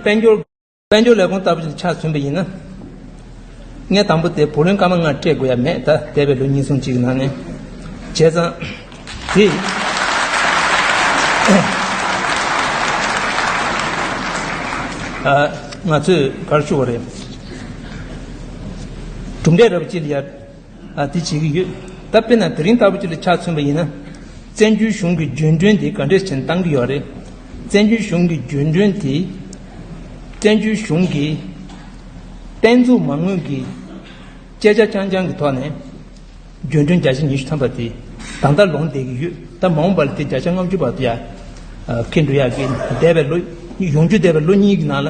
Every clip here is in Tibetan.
དཔལ་འབྱོར། དཔལ་འབྱོར་ལས་ཁུངས་ལྟ་བུ་ཞིག་ཏུ་ཆགས་ཟིན་པ་ཡིན་ན། ངས་དང་པོ་དེ་བུ་ལོན་སྐར་མ་ལྔ་སྤྲད་དགོས་ཡ་མེད་ད་འདས་པའི་ལོ་གཉིས་སུམ་གཅིག་གི་ནང་ནས། བྱས་ཙང། དེ། ང་ཚོས་གར་ཞུ་བ་རེད། གྲུབ་འབྲས་རབ་བརྗིད་ཡ། ལ་དེ་བྱེད་ཀྱི་ཡོད། ད་དཔེར་ན་དེ་རིང་ལྟ་བུ་ཅིག་ལ་ཆ་མཚོན་པ་ཡིན་ན། བཙན་བྱོལ་གཞུང་གི་འགྱོད་འགྲོན་དེ་ག་འདྲས་ཆེ་ན་བཏང་གི་ཡོད་རེད། བཙན་བྱོལ་གཞུང་གི་འགྱོད་འགྲོན་དེ། བཙན་བྱོལ་གཞུང་གིས། བསྟན་འཛུགས་མ་དངུལ་གྱི། སྤྱད་བྱ་རྐྱང་རྐྱང་གི་ཐོག་ནས། འགྱོད་འགྲོན་བརྒྱ་ཆ་ཉི་ཤུ་ཐམ་པ་དེ། ད་ལྟ་ལོངས་བསྡད་ཀྱི་ཡོད། ད་མ་འོངས་པ་ལ་དེ་བརྒྱ་ཆ་ལྔ་བཅུ་བར་དུ་ཡང། ཁེལ་འགྲོ་ཡག་གི། འདས་པའི་ལོ། ཡོང་རྒྱུ་འདས་པའི་ལོ་གཉིས་ཀྱི་ནང་ལ།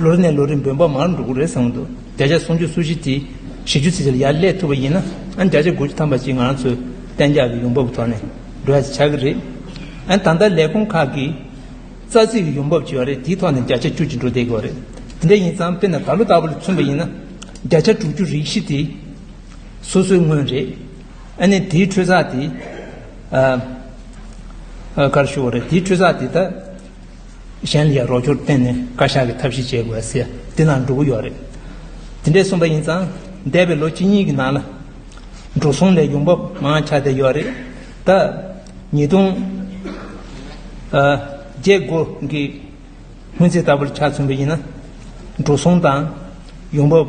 ལོ་རེ་ནས་ལོ་རེ་འབོད་འབངས་མང་རུ་འགྲོ་གི་རེད་བསམ་གི་འདུག་བརྒྱ་ཆ་སུམ་ཅུ་སུམ་བཞི་དེ་བཞི་བཅུ་ཚིག་ཆར་ཡར་སླེབས་ཐུབ་པ་ཡིན་ན་ཨ་ནི་བརྒྱ་ཆ་དགུ་བཅུ་ཐམ་པ་ཅིག་ང་རང་ཚོའི་གཏན་འཇགས་ཀྱི་ཡོང་འབབ་ཀྱི་ཐོག་ནས་འགྲོ་ཡ་ཞིག་ཆགས་ཀྱི་རེད། ཨ་ནི་ད་ལྟ་ལས་ཁུངས་ཁག་གི་རྩ་ཚིག་གི་ཡོང་འབབ་བྱེ་བ་རེ་དེའི་ཐོག་ནས་བརྒྱ་ཆ་བཅུ་གཅིག་འགྲོ་བསྡད་ཀྱི་བ་རེད། དེ་འདྲ་ཡིན་ཙང་དཔེར་ན་ད་ལོ་ལྟ་བུ་ལ་མཚོན་པ་ཡིན་ན་བརྒྱ་ཆ་དྲུག་ཅུ་རིག་བཞི་དེ་སོ་སོའི་དངོས་རེད། ཨ་ནི་དེའི་ཁྲོད་ཚགས་དེ། ཀར་ཞུ་བ་རེད་དེའི་ཁྲོད་ཚགས་དེ་ད། གཞན་ལས་རོགས་སྐྱོར་བརྟེན་ནས་བཀའ་ཤག་གི་ཐབས་ཤེས་བྱེད་དགོས་ཟེར་དེ་ནང་འགྲོ་གི་ཡོད་རེད། དེ་འདྲས་གསུངས་པ་ཡིན་ཙང་འདས་པའི་ལོ་གཅིག་གཉིས་ཀྱི་ནང་ལ། འགྲོ་སོང་ལས་ཡོང་འབབ་མང་ཆགས་བསྡད་ཡོད་རེད། ད། ཉིས་སྟོང། བརྒྱད་དགུ་གི་སྔོན་ཚེས་ལྟ་བུར་ཆ་མཚོན་པ་ཡིན་ན། འགྲོ་སོང་དང། ཡོང་འབབ།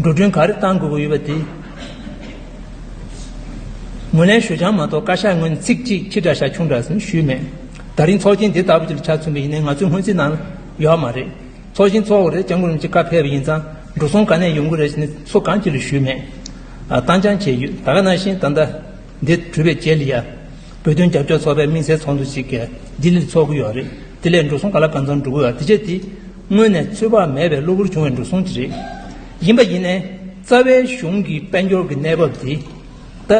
འགྲོ་གྲོན་ག་རེ་གཏང་དགོས་ཀྱི་ཡོད་པ་དེ་ངོས་ལེན་ཞུ་རྐྱང་མ་གཏོགས་བཀའ་ཤག་ངོས་ནས་ཚིག་གཅིག་ཕྱི་དགྲ་ཤ་ཁྱུང་དགྲ་ཟེར་ནས་ཞུས་མེད། ད་རིང་ཚོགས་ཆེན་དེ་ལྟ་བུ་ཞིག་ལ་ཆ་མཚོན་པ་ཡིན་ན་ང་ཚོའི་སྔོན་རྩིས་ནང་ཡོད་ཨ་མ་རེད། ཚོགས་ཆེན་ཚོགས་འགོ་རེད་སྐྱབས་མགོན་རིན་ཆེན་བཀའ་ཕེབས་པ་ཡིན་ཙང་འགྲོ་སོང་ག་ནས་ཡོང་གི་རེད་ཟེར་ནས་ཚོ་གང་ཅི་ལ་ཞུས་མེད། བཏང་སྦྱང་བྱས་ཡོད་ད་ག་ནང་བཞིན་ད་ལྟ་འདི་གྲུབ་པའི་རྗེས་ལ་ཡ། བོད་དོན་རྒྱབ་སྐྱོར་ཚོགས་པའི་དམིགས་བསལ་ཚོགས་འདུ་ཞིག་ལྡི་ལིར་ཚོགས་ཀྱི་ཡོད་རེད་དེ་ལས་འགྲོ་སོང་ག་ལ་གང་ཙམ་འགྲོ་གི་ཡོད་དེ་བྱས་དེ། སྔོན་ནས་ཚོད་དཔག་མེད་པའི་གློ་བུར་བྱུང་བའི་འགྲོ་སོང་དེ་རེད། ཡིན་པ་ཡིན། རྩ་བའི་གཞུང་གི་དཔལ་འབྱོར་གྱི་གནས་བབ་འདི་ད་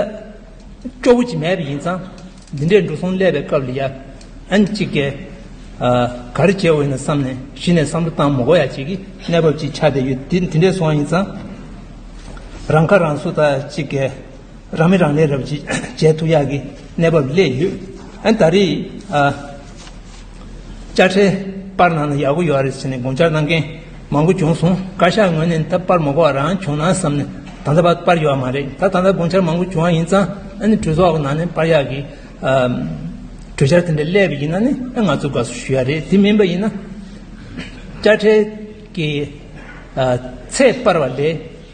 སྐྱོ་བོ་ཅིག་མེད་པ་ཡིན་ཙང་འདི་འདྲའི་འགྲོ་སོང་སླེབས་པའི་སྐབས་ལ་ཡ་ཨན་གཅིག་གས་ག་རེ་བྱེད་འོས་ན་བསམ་ནས་གཞི་ནས་བསམ་བློ་བཏང་མོ་གོ་ཡ་གཅིག་གི་གནས་བབ་ཅིག་ཆགས་བསྡད་ཡོད་འདི་འདི་འདྲའི་སོང་ཡིན་ཙང་རང་ཁ་རང་གསོ་ད་གཅིག་གས་རང་མི་རང་ལས་རབ་བྱེད་ཐུག་ཡག་གི་གནས་བབ་སླེབས་ཡོད་ཨན་ད་རེས་དཔྱ་ཁྲལ་སྤར་གནང་ན་ཡག་པོ་ཡོད་རེད་ཟེར་ནས་དགོངས་འཆར་གནང་མཁན་མང་པོ་བྱུང་སོང་བཀའ་ཤག་ངོས་ནས་ད་སྤར་མ་གོ་བ་རང་བྱུང་ན་བསམ་ནས་ད་ལྟ་བར་སྤར་ཡོད་པ་མ་རེད་ད་ད་ལྟ་དགོངས་འཆར་མང་པོ་བྱུང་བ་ཡིན་ཙང་ཨ་ནི་གྲོས་ཚོགས་ནང་ནས་སྤར་ཡག་གི་གྲོས་འཆར་དེ་འདྲ་སླེབས་པ་ཡིན་ན་ནི་ཨ་ང་ཚོ་དགའ་བསུ་ཞུ་ཡག་རེད་དེ་མིན་པ་ཡིན་ན་དཔྱ་ཁྲལ་གི་ཚད་སྤར་བ་ལས་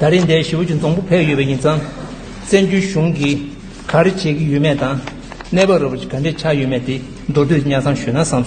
ད་རེས་འདས་ཞུ་བ་ཅུང་བཙོང་པོ་བས་ཡོད་པ་ཡིན་ཙང། བཙན་བྱོལ་གཞུང་གིས་ག་རེ་བྱེད་ཀྱི་ཡོད་མེད་དང་གནས་བབ་ར་བ་ཅིག་ག་འདྲས་ཆགས་ཡོད་མེད་དེ་མདོར་བསྡུས་ནས་གཉའ་ཚང་ཞུས་ན་བསམ་སོང།